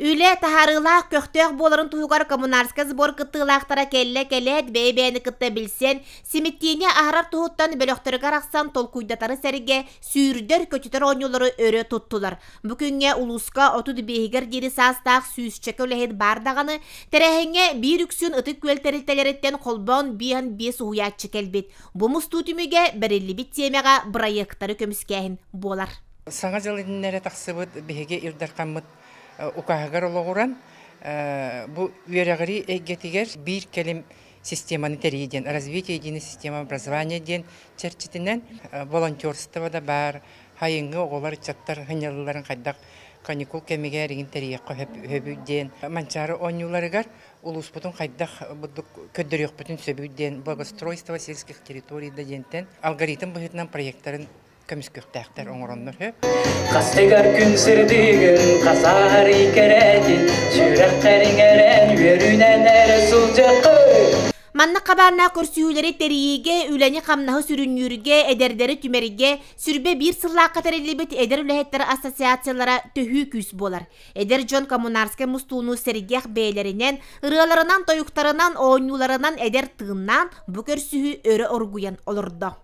Үлэ таһаарыылаах көхтөөх буоларын туһугар коммунарскай сбор кыттыылаахтара кэллэ-кэлээт бэйэ-бэйэни кытта билсэн, симиттиини аһарар туһуттан бөлөхтөрүгэр арахсан толкуйдатары сэргэ сүүрдэр-көтүтэр оонньуулары өрө туттулар. Бу күҥҥэ улууска отут биэһигэр диэри саастаах сүүсчэкэ үлэһит баар даҕаны, тэрээһиҥҥэ биир үксүн ытык күөл тэрилтэлэриттэн холбоон биэһэн биэс уһуйааччы кэлбит. Бу мустуу түмүгэ бэриллибит тиэмэҕэ бырайыактары көмүскээһин буолар. Саҥа дьыл иннинэ эрэ тахсыбыт биһиги Ил Дархаммыт укааһыгар олоҕуран, бу үөрэҕирии эйгэтигэр биир кэлим системаны тэрийии диэн, Развитие единой системы образования диэн чэрчитинэн волонтерство да баар, сайыҥҥы оҕолор, ыччаттар сынньалыларын хайдах каникул кэмигэр игин тэрийиэххэ сөбүй диэн Манчаары оонньууларыгар улууспутун хайдах көрдөрүөхпүтүн сөбүй диэн благоустройство сельских территорий да диэнтэн алгоритм быһыытынан проектарын көмүскүөхтээхтэр оҥороннор үһү. Хастыгар күн сырдыгын хасаарый кэрээтин сүрэхтэрин эрэн үөрүнэн эрэ сылдьаккын Маннык хабаарнаах көрсүһүүлэри тэрийиигэ, үлэни-хамнаһы сүрүннүүргэ, эдэрдэри түмэргэ сүрбэ биир сыллаахха тэриллибит эдэр үлэһиттэр ассоциациялара төһүү күүс буолар. Эдэр дьон коммунарскай мустууну сэргиэх бэйэлэринэн, ырыаларынан, тойуктарынан, оонньууларынан эдэр тыыннаан, бу көрсүһүү өрө оргуйан олордо.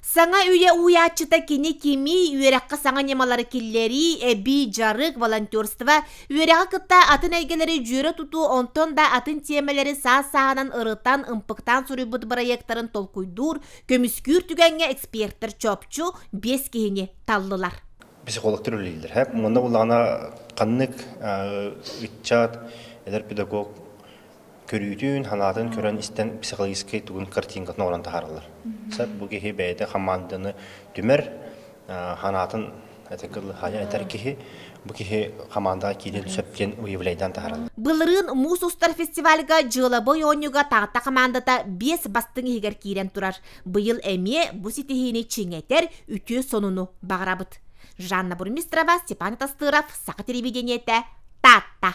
Саҥа үйэ уйааччыта кини кимий, үөрэххэ саҥа ньымалары киллэрии, эбии дьарык, волонтерство, үөрэҕи кытта атын эйгэлэри дьүөрэ тутуу, онтон да атын тиэмэлэри саас-сааһынан ырытан, ымпыктаан суруйбут бырайыактарын толкуйдуур, көмүскүүр түгэҥҥэ экспертэр чопчу биэс киһини таллылар. психологтар үлэлииллэр. Һэ, манна буллаҕына ханнык ыччат, эдэр педагог көрүүтүн-санаатын көрөн истэн психологическай тугун картинкатын оҥорон таһаараллар. Сөп бу киһи бэйэтэ хамаанданы түмэр, санаатын этэр киһи бу киһи хамаандаҕа киириэн сөп диэн уявлениетан таһаараллар. Былырыын муус устар фестивальга дьыалабай оонньууга Таатта хамаандата биэс бастыҥ иһигэр киирэн турар. Быйыл эмиэ бу ситиһиини чиҥэтэр үтүө сонуну баҕарабыт. Жанна Бурмистрова, Степан Тастыров, Саха телевидениетэ, Таатта.